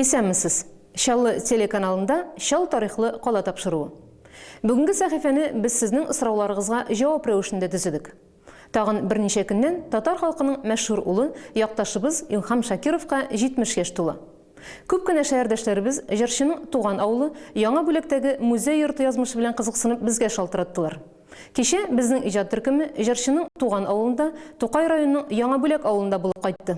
Исәнмесез! Чаллы телеканалында Чал тарихлы кала тапшыруы. Бүгенге сәхифәне без сезнең сорауларыгызга җавап рәвешендә төзедек. Тагын берничә көннән татар халкының мәшһүр улы, якташыбыз Илһам Шакировка 70 яшь тула. Күп кенә шәһәрдәшләребез җырчының туган авылы Яңа Бүләктәге музей-йорты язмышы белән кызыксынып безгә шалтыраттылар. Кичә безнең иҗат төркеме җырчының туган авылында, Тукай районының Яңа Бүләк авылында булып кайтты.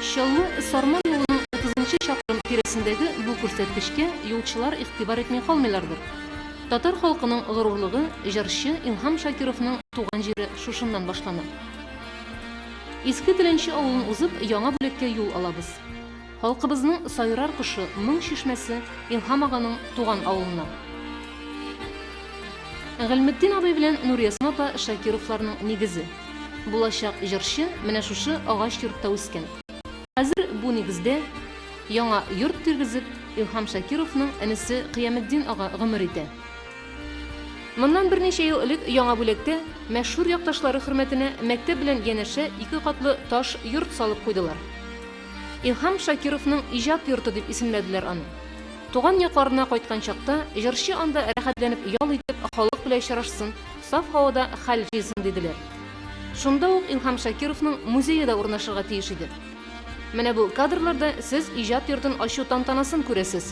Чаллы, Сарман юлының 30 нчы чакрым тирәсендәге бу күрсәткечкә юлчылар игътибар итми калмыйлардыр. Татар халкының горурлыгы, җырчы Илһам Шакировның туган җире шушыннан башлана. Иске Теләнче авылын узып, Яңа Бүләккә юл алабыз. Халкыбызның сайрар кошы, моң чишмәсе Илһам аганың туган авылына. Гыйльметдин абый белән Нуриәсма апа Шакировларның нигезе. Булачак җырчы менә шушы агач йортта үскән. Хәзер бу нигездә яңа йорт тиргезеп, Илһам Шакировның энесе Кыяметдин ага гомер итә. Моннан берничә ел элек яңа бүләктә мәшһүр якташлары хөрмәтенә мәктәп белән янәшә ике катлы таш йорт салып куйдылар. Илһам Шакировның иҗат йорты дип исемләделәр аны. Туган якларына кайткан чакта, җырчы анда рәхәтләнеп ял итеп, халык белән очрашсын, саф һавада хәл җыйсын диделәр. Шунда ук Илһам Шакировның музее да урнашырга тиеш иде. Менә бу кадрларда сез иҗат йортын ачу тантанасын күрәсез.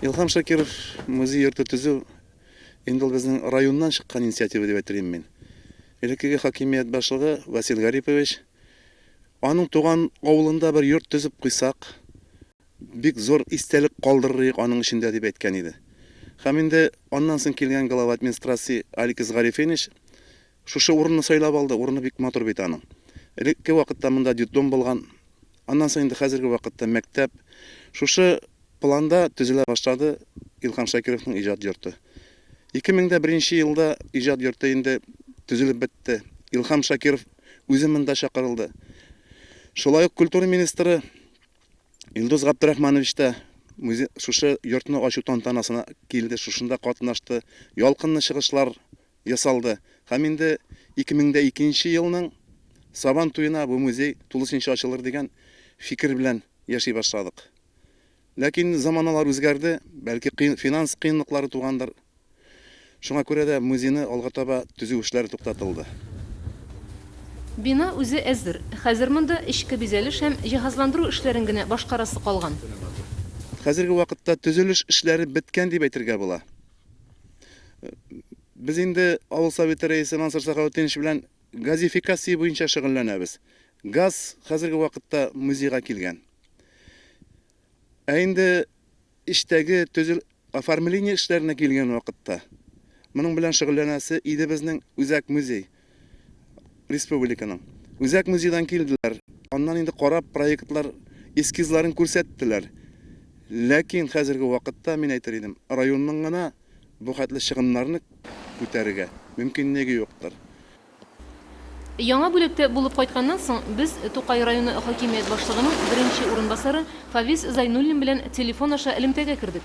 Илхам Шакиров музей йорты төзү инде ул безнең районнан чыккан инициатива дип әйтер идем мин. Элеккеге хакимият башлыгы Васил Гарипович аның туган авылында бер йорт төзеп куйсак, бик зур истәлек калдырыр идек аның эчендә дип әйткән иде. Һәм инде аннан соң килгән глава администрации Аликис Гарифенич Шушы урынны сайлап алды, урыны бик матур бит аның. Элекке вакытта монда детдом булган. Аннан соң инде хәзерге вакытта мәктәп. Шушы планда төзелә башлады Илһам Шакировның иҗат йорты. 2001 нче елда иҗат йорты инде төзелеп бетте. Илһам Шакиров үзе монда чакырылды. Шулай ук культура министры Илдус Габдрахманович та шушы йортны ачу тантанасына килде, шушында катнашты. Ялкынлы чыгышлар ясалды һәм инде 2002 нче елның Сабан туена бу музей тулысенча ачылыр дигән фикер белән яши башладык. Ләкин заманалар үзгәрде, бәлки кыен финанс кыенлыклары тугандыр. Шуңа күрә дә музейны алга таба төзү эшләре туктатылды. Бина үзе әзер, хәзер монда эчке бизәлеш һәм җиһазландыру эшләрен генә башкарасы калган. Хәзерге вакытта төзелеш эшләре беткән дип әйтергә була. Без инде авыл советы рәисе Мансур Сахаутдинович белән газификация буенча шөгыльләнәбез. Газ хәзерге вакытта музейга килгән. Ә инде эчтәге төзел оформление эшләренә килгән вакытта моның белән шөгыльләнәсе иде безнең үзәк музей. республиканың. Үзәк музейдан килделәр, аннан инде карап проектлар эскизларын күрсәттеләр. Ләкин хәзерге вакытта, мин әйтер идем, районның гына бу хәтле чыгымнарны күтәрергә мөмкинлеге юктыр. Яңа бүләктә булып кайтканнан соң, без Тукай районы хакимият башлыгының беренче урынбасары Фавис Зайнуллин белән телефон аша элемтәгә кердек.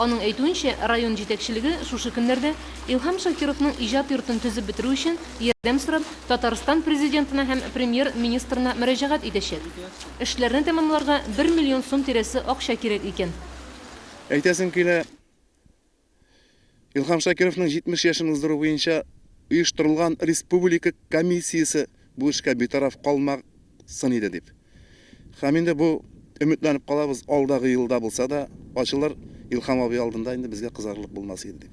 Аның әйтүенчә, район җитәкчелеге шушы көннәрдә Илһам Шакировның иҗат йортын төзеп бетерү өчен ярдәм сорап Татарстан Президентына һәм Премьер-министрына мөрәҗәгать итәчәк. Эшләрне тәмамларга бер миллион сум тирәсе акча кирәк икән. Әйтәсем килә. Илһам Шакировның 70 яшен уздыру буенча оештырылган республика комиссиясе бу эшкә битараф калмаг сын иде, дип. Һәм инде бу, өметләнеп калабыз, алдагы елда булса да ачылыр, Илһам абый алдында инде безгә кызарырлык булмас иде, дип.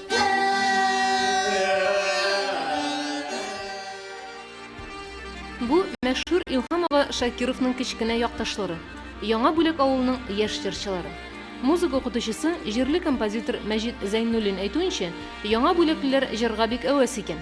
Бу мәшһүр Илһамова Шакировның кечкенә якташлары, Яңа Бүләк авылының яшь җырчылары. Музыка укытучысы, җирле композитор Мәҗит Зәйнуллин әйтүенчә, яңа бүләклеләр җырга бик әвәс икән.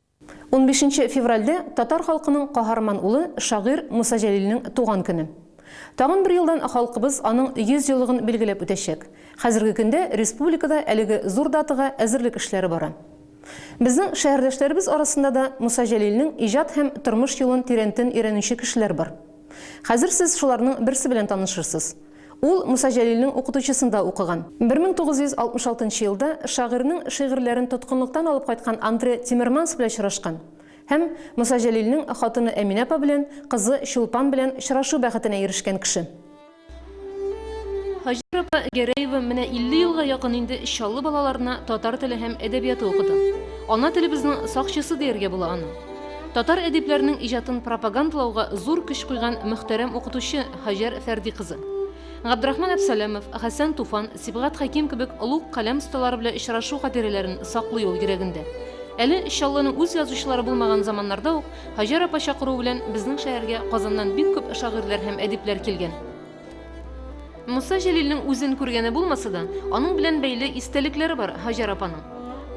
Унбишенче февральдә татар халкының каһарман улы, шагыйрь Муса Җәлилнең туган көне. Тагын бер елдан халкыбыз аның 100 еллыгын билгеләп үтәчәк. Хәзерге көндә республикада әлеге зур датага әзерлек эшләре бара. Безнең шәһәрдәшләребез арасында да Муса Җәлилнең иҗат һәм тормыш юлын тирәнтен өйрәнүче кешеләр бар. Хәзер сез шуларның берсе белән танышырсыз. Ул Муса Җәлилнең укытучысында укыган. 1966 нчы елда шагыйрьнең шигырьләрен тоткынлыктан алып кайткан Андре Тиммерманс белән очрашкан һәм Муса Җәлилнең хатыны Әминә апа белән кызы Чулпан белән очрашу бәхетенә ирешкән кеше. Һаҗәр апа Гәрәева менә 50 елга якын инде Чаллы балаларына татар теле һәм әдәбияты укыта. Ана телебезнең сакчысы дияргә була аны. Татар әдипләренең иҗатын пропагандалауга зур көч куйган мөхтәрәм укытучы, Һаҗәр Фәрди кызы. Габдрахман Әпсәләмов, Хәсән Туфан, Сибгат Хәким кебек олуг каләм осталары белән очрашу хатирәләрен саклый ул йөрәгендә. Әле Чаллының үз язучылары булмаган заманнарда ук Һаҗәр апа чакыруы белән безнең шәһәргә Казаннан бик күп шагыйрьләр һәм әдипләр килгән. Муса Җәлилнең үзен күргәне булмаса да, аның белән бәйле истәлекләре бар Һаҗәр апаның.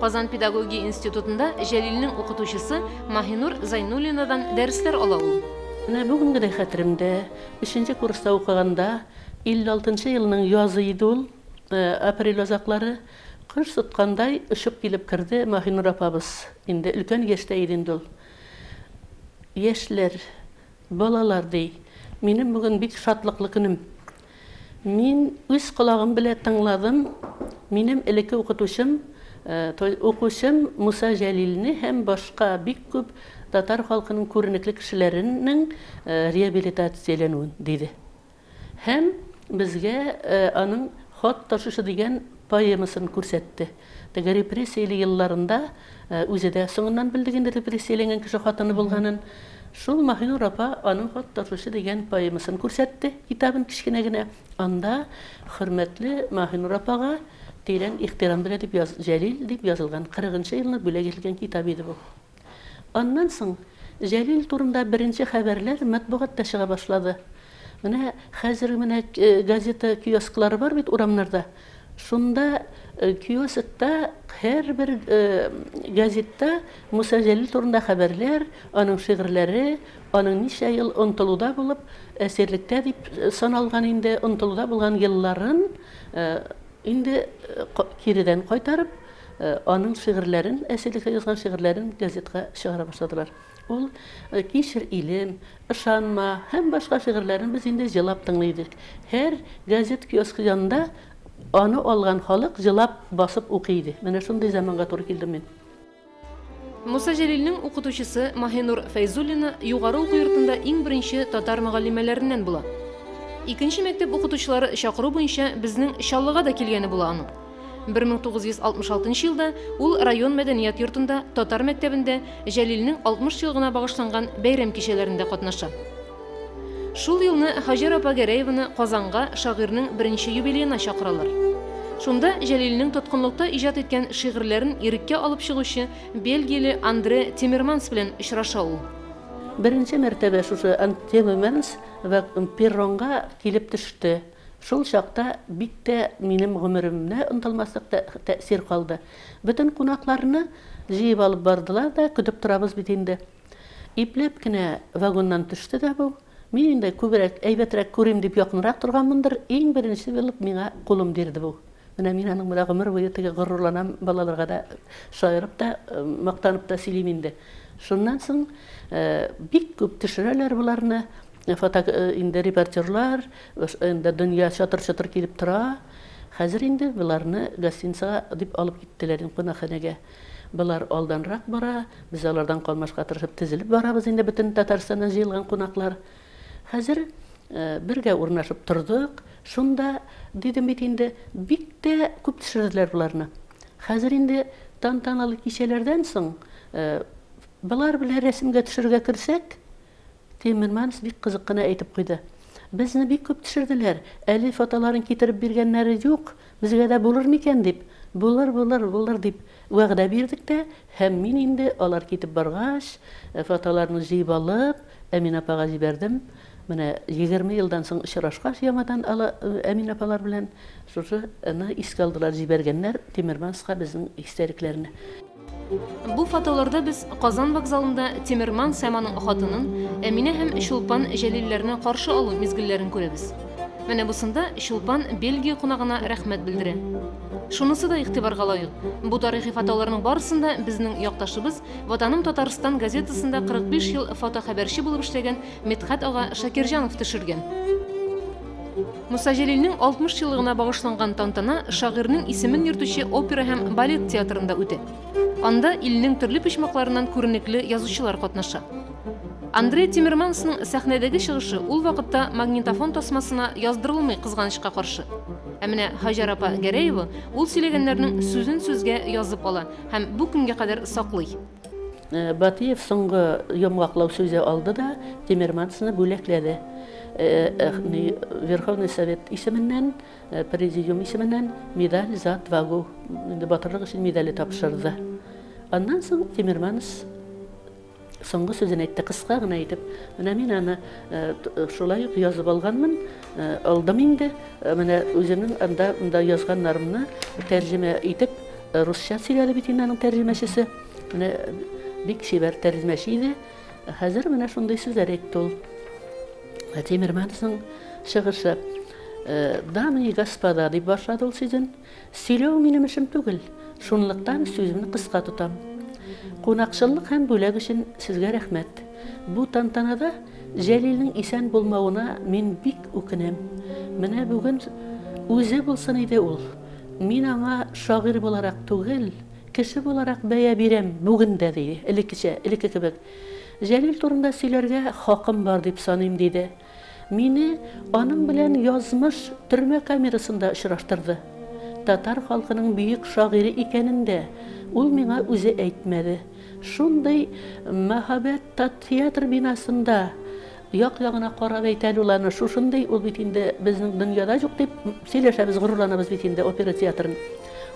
Казан педагогия институтында Җәлилнең укытучысы Маһинур Зайнуллинадан дәресләр ала ул. Менә бүген генә хәтеремдә, өченче курста укыганда, 56 нчы елның язы иде ул, апрель азаклары, кош тоткандай очып килеп керде Маһинур апабыз. Инде өлкән яшьтә иде инде ул. Яшьләр, балалар, ди, минем бүген бик шатлыклы көнем. Мин үз колагым белә тыңладым, минем элекке укытучым, укучым Муса Җәлилне һәм башка бик күп татар халкының күренекле кешеләренең реабилитацияләнүен, диде. Һәм безгә аның Хат ташучы дигән поэмасын күрсәтте. Теге репрессияле елларында үзе дә соңыннан белдек инде репрессияләнгән кеше хатыны булганын. Шул Маһинур апа аның Хат ташучы дигән поэмасын күрсәтте, китабын кечкенә генә. Анда Хөрмәтле Маһинур апага тирән ихтирам белә дип яз Җәлил дип язылган, кырыгынчы елны бүләк ителгән китап иде бу. Аннан соң Җәлил турында беренче хәбәрләр матбугатта чыга башлады. Менә хәзер менә газета киосклары бар бит урамнарда. Шунда киоскта һәрбер газетта Муса Җәлил турында хәбәрләр, аның шигырьләре, аның ничә ел онтылуда булып, әсирлектә дип саналган инде, онтылуда булган елларын Инде киридән кайтарып, аның шигырьләрен, әсилеккә язган шигырьләрен газетка чыгара башладылар. Ул Кичер, илем, Ышанма һәм башка шигырьләрен без инде җылап тыңлый идек. Һәр газет киоскы янында аны алган халык җылап басып укый иде. Менә шундый заманга туры килдем мин. Муса Җәлилнең укытучысы Маһинур Фәйзуллина югары уку йортында иң беренче татар мөгаллимәләреннән була. Икенче мәктәп укытучылары чакыру буенча безнең Чаллыга да килгәне була аның. 1966 елда ул район мәдәният йортында татар мәктәбендә Җәлилнең 60 елгына багышланган бәйрәм кичәләрендә катнаша. Шул елны Һаҗәр апа Гәрәеваны Казанга шагыйрьнең беренче юбилеена чакыралар. Шунда Җәлилнең тоткынлыкта иҗат иткән шигырьләрен иреккә алып чыгучы бельгияле Андре Тиммерманс белән очраша ул. Беренче мәртәбә шушы Тиммерманс перронга килеп төште. Шул чакта бик тә минем гомеремдә онытылмаслык тәэсир калды. Бөтен кунакларны җыеп алып бардылар да, көтеп торабыз бит инде. Ипләп кенә вагоннан төште дә бу. Мин инде күбрәк, әйбәтрәк күрим дип якынрак торганмындыр, иң беренче булып миңа кулын бирде бу. Менә мин аның белән гомер буе теге горурланам, балаларга да шаярып та, мактанып та сөйлим инде. Шуннан соң бик күп төшерәләр боларны, фото инде репортерлар, инде дөнья чатыр-чотыр килеп тора. Хәзер инде боларны гостиницага дип алып киттеләр инде кунакханәгә. Болар алданрак бара, без алардан калмаска тырышып тезелеп барабыз инде бөтен Татарстаннан җыелган кунаклар. Хәзер бергә урнашып тордык, шунда дидем бит инде, бик тә күп төшерделәр боларны. Хәзер инде тантаналы кичәләрдән соң болар белән рәсемгә төшерергә керсәк, Тиммерманс бик кызык кына әйтеп куйды. Безне бик күп төшерделәр. Әле фотоларын китереп биргәннәре юк. Безгә дә булыр микән дип. Булыр, булыр, булыр, дип вәгъдә бирдек тә, һәм мин инде, алар китеп баргач, фотоларны җыеп алып, Әминә апага җибәрдем. Менә егерме елдан соң очрашкач яңадан ала, Әминә апалар белән шушы ны искә алдылар, җибәргәннәр Тиммерманска безнең истәлекләрне. Бу фотоларда без Казан вокзалында Тимерман Сәманың хатынын Әминә һәм Чулпан Җәлилләрне каршы алу мизгелләрен күрәбез. Менә бусында Чулпан Бельгия кунагына рәхмәт белдерә. Шунысы да игътибарга лаек, бу тарихи фотоларның барысында безнең якташыбыз Ватаным Татарстан газетасында 45 ел фотохәбәрче булып эшләгән Мидхәт ага Шакирҗанов төшергән. Муса Җәлилнең 60 еллыгына багышланган тантана шагыйрьнең исемен йөртүче опера һәм балет театрында үтә. Анда илнең төрле почмакларыннан күренекле язучылар катнаша. Андрей Тимермансның сәхнәдәге чыгышы ул вакытта магнитофон тасмасына яздырылмый кызганычка каршы. Ә менә Хаҗар апа Гәрәева ул сөйләгәннәрнең сүзен сүзгә язып ала һәм бу көнгә кадәр саклый. Батыев соңгы йомгаклау сүзе алды да Тимермансны бүләкләде. Верховный Совет исеменнән, Президиум исеменнән медаль за отвагу, батырлык өчен медале тапшырды. Аннан соң Тимерманс соңгы сүзен әйтте, кыска гына итеп. Менә мин аны шулай ук язып алганмын. Алдым инде, менә үземнең анда монда язганнарымны тәрҗемә итеп, русча сөйләде бит инде аның тәрҗемәчесе. Менә бик чибәр тәрҗемәче иде. Хәзер менә шундый сүзләр әйтте ул. Тимермановның чыгышы. Дамы и господа, дип башлады ул сүзен. Сөйләү минем эшем түгел, шунлыктан сүземне кыска тотам. Кунакчыллык һәм бүләк өчен сезгә рәхмәт. Бу тантанада Җәлилнең исән булмавына мин бик үкенәм. Менә бүген үзе булсын иде ул. Мин аңа шагыйрь буларак түгел, кеше буларак бәя бирәм бүген дә, диде. Элеккечә, элекке кебек. Җәлил турында сөйләргә хакым бар дип саныйм, диде. Мине аның белән язмыш төрмә камерасында очраштырды. Татар халкының бөек шагыйре икәнен дә ул миңа үзе әйтмәде. Шундый мәһабәт татеатр бинасында як-ягына карап әйтә әле ул аны, шушындый ул бит инде безнең дөньяда юк дип сөйләшәбез, горурланабыз бит инде опера театрын.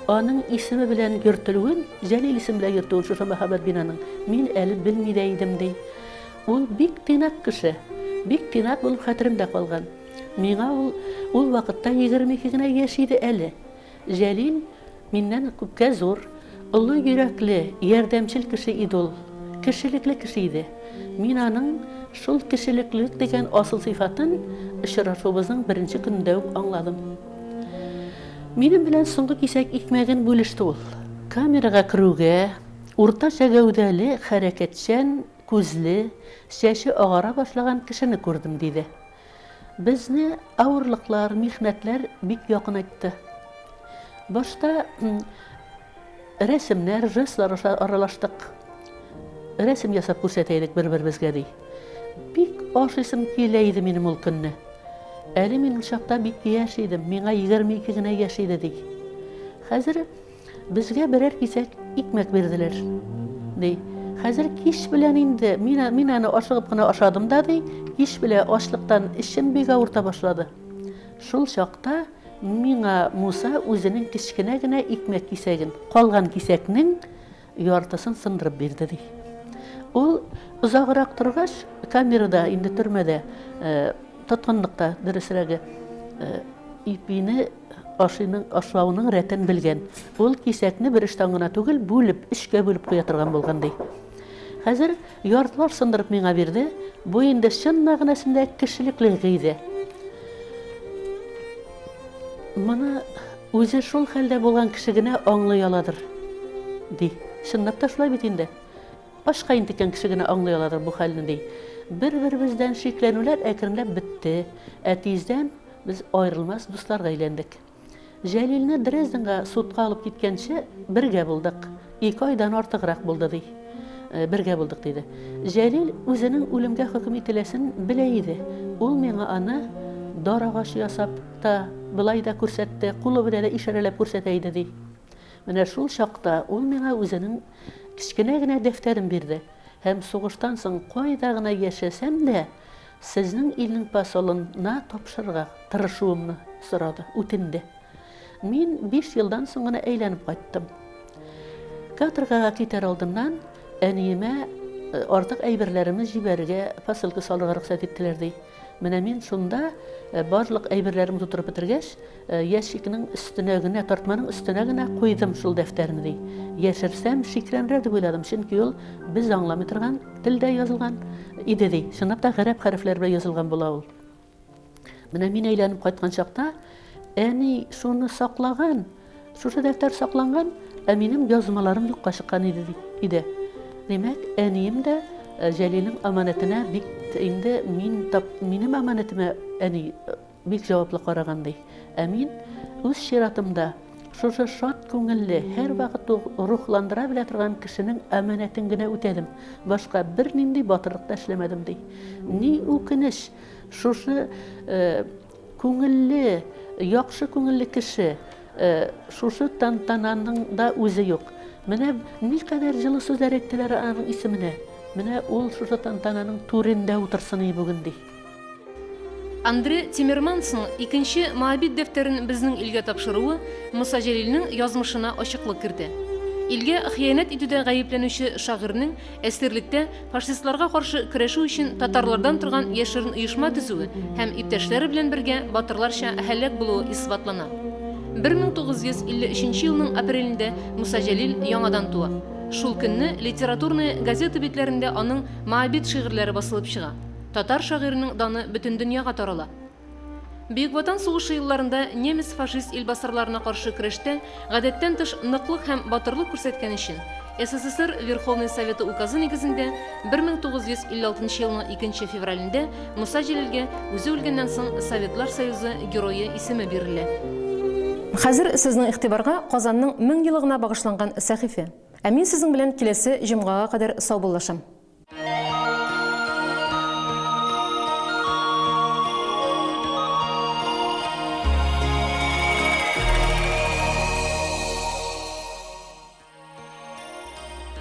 Аның исеме белән йөртелүен, Җәлил исеме белән йөртүен шушы мәһабәт бинаның мин әле белми дә идем, ди. Ул бик тыйнак кеше. Бик тыйнак булып хәтеремдә калган. Миңа ул, ул вакытта егерме ике генә яшь иде әле. Җәлил миннән күпкә зур, олы йөрәкле, ярдәмчел кеше иде ул. Кешелекле кеше иде. Мин аның шул кешелеклелек дигән асыл сыйфатын очрашуыбызның беренче көнендә үк аңладым. Минем белән соңгы кисәк икмәген бүлеште ул. Камерага керүгә, уртача гәүдәле, хәрәкәтчән, күзле, чәче агара башлаган кешене күрдем, диде. Безне авырлыклар, михнәтләр бик якынайтты. Башта рәсемнәр, жестлар аралаштык. Рәсем ясап күрсәтәйдек бер-беребезгә, ди. Бик ашыйсым килә иде минем ул көнне. Әле мин ул чакта бик яшь идем, миңа 22 генә яшь иде, ди. Хәзер Безгә берәр кисәк икмәк бирделәр, ди. Хәзер кич белән инде, мин, мин аны ашыгып кына ашадым да, ди, кич белә ачлыктан эчем бик авырта башлады. Шул чакта миңа Муса үзенең кечкенә генә икмәк кисәген, калган кисәкнең яртысын сындырып бирде, ди. Ул озаграк торгач, камерада, инде төрмәдә, тоткынлыкта, дөресрәге, ипине Ашыйның, ашлавының рәтен белгән. Ул кисәкне бер очтан гына түгел, бүлеп, өчкә бүлеп куя торган булган, ди. Хәзер яртылаш сындырып миңа бирде. Бу инде чын мәгънәсендә кешелекле гыйдә. Моны үзе шул хәлдә булган кеше генә аңлый аладыр, ди. Чынлап та шулай бит инде. Ашка интеккән кеше генә аңлый аладыр бу хәлне, ди. Бер-беребездән шикләнүләр әкренләп бетте. Ә тиздән Без аерылмас дусларга әйләндек. Җәлилне Дрезденга судка алып киткәнче бергә булдык. Ике айдан артыграк булды, ди. Э, бергә булдык, диде. Җәлил үзенең үлемгә хөкем ителәсен белә иде. Ул миңа аны дар агачы ясап та, былай да күрсәтте, кулы белән дә ишарәләп күрсәтә иде, ди. Менә шул чакта ул миңа үзенең кечкенә генә дәфтәрен бирде һәм сугыштан соң кайда гына яшәсәм дә, Сезнең илнең посолын на тапшырырга тырышуымны сорады, үтенде. Мин биш елдан соң гына әйләнеп кайттым. Каторгага китәр алдыннан әниемә э, артык әйберләремне җибәрергә посылка салырга рөхсәт иттеләр, ди. Менә мин шунда э, барлык әйберләремне тутырып бетергәч, Ящикның өстенә генә, тартманың өстенә генә куйдым шул дәфтәрне, ди. Яшерсәм, шикләнрә дип уйладым, чөнки ул без аңламый торган телдә язылган иде, ди. Чынлап та, гарәп хәрефләре белән язылган була ул. Менә мин әйләнеп кайткан чакта, әни шуны саклаган, шушы дәфтәр сакланган, ә минем язмаларым юкка чыккан иде, ди. Иде. Димәк, әнием дә Җәлилнең аманәтенә бик инде мин тап, минем аманәтемә әни Бик җаваплы караган, ди. Ә мин, үз чиратымда, шушы шат күңелле, һәрвакыт рухландыра белә торган кешенең әманәтен генә үтәдем, башка бернинди батырлык та эшләмәдем, ди. Ни үкенеч, шушы күңелле, яхшы күңелле кеше шушы тантананың да үзе юк. Менә никадәр җылы сүзләр әйттеләр аның исеменә. Менә ул шушы тантананың түрендә утырсын иде бүген, ди. Андре Тиммермансның икенче Моабит дәфтәрен безнең илгә тапшыруы Муса Җәлилнең язмышына ачыклык кертә. Илгә хыянәт итүдә гаепләнүче шагыйрьнең әсирлектә фашистларга каршы көрәшү өчен татарлардан торган яшерен оешма төзүе һәм иптәшләре белән бергә батырларча һәлак булуы исбатлана. 1953 елның апрелендә Муса Җәлил яңадан туа. Шул көнне Литературная газета битләрендә аның Моабит шигырьләре басылып чыга. Татар шагыйренең даны бөтен дөньяга тарала. Бөек Ватан сугышы елларында немец-фашист илбасарларына каршы көрәштә гадәттән тыш ныклык һәм батырлык күрсәткән өчен СССР Верховный Советы указы нигезендә 1956 елның 2 февралендә Муса Җәлилгә үзе үлгәннән соң Советлар Союзы Герое исеме бирелә. Хәзер сезнең игътибарга Казанның мең елыгына багышланган сәхифә. Ә мин сезнең белән киләсе җомгага кадәр саубуллашам.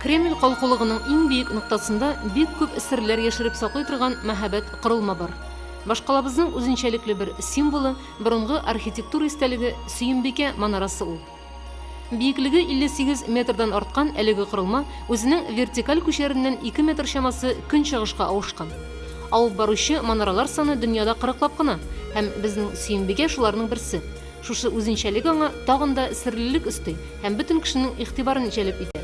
Кремль калкулыгының иң биек ноктасында бик күп серләр яшереп саклый торган мәһабәт корылма бар. Башкалабызның үзенчәлекле бер символы, борынгы архитектура истәлеге Сөембикә манарасы ул. Биеклеге 58 метрдан арткан әлеге корылма үзенең вертикаль күчәреннән 2 метр чамасы көнчыгышка авышкан. Алып баручы манаралар саны дөньяда кырыклап кына, һәм безнең Сөембикә шуларның берсе. Шушы үзенчәлек аңа тагын да серлелек өсти һәм бөтен кешенең игътибарын җәлеп итә.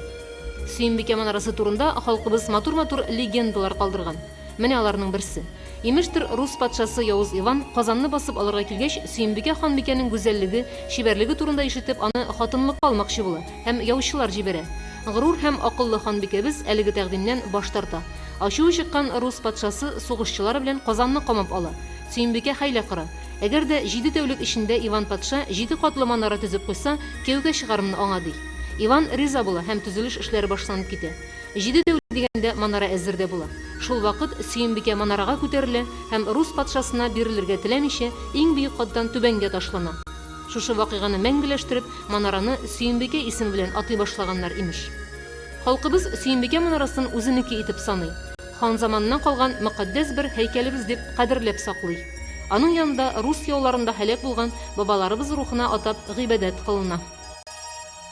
Сөембикә манарасы турында халкыбыз матур-матур легендалар калдырган. Менә аларның берсе. Имештер, рус патшасы Явыз Иван Казанны басып алырга килгәч, Сөембикә ханбикәнең гүзәллеге, чибәрлеге турында ишетеп, аны хатынлыкка алмакчы була һәм яучылар җибәрә. Горур һәм акыллы ханбикәбез әлеге тәкъдимнән баш тарта. Ачуы чыккан рус патшасы сугышчылары белән Казанны камап ала. Сөембикә хәйлә кора. Әгәр дә җиде тәүлек эчендә Иван патша җиде катлы манара төзеп куйса, кияүгә чыгармын аңа, ди. Иван риза була һәм төзелеш эшләре башланып китә. Җиде тәүлек дигәндә манара әзер дә була. Шулвакыт Сөембикә манарага күтәрелә һәм рус патшасына бирелергә теләмичә, иң биек каттан түбәнгә ташлана. Шушы вакыйганы мәңгеләштереп, манараны Сөембикә исеме белән атый башлаганнар, имеш. Халкыбыз Сөембикә манарасын үзенеке итеп саный. Хан заманыннан калган мөкатдәс бер һәйкәлебез дип кадерләп саклый. Аның янында рус яуларында һәлак булган бабаларыбыз рухына атап гыйбадәт кылына.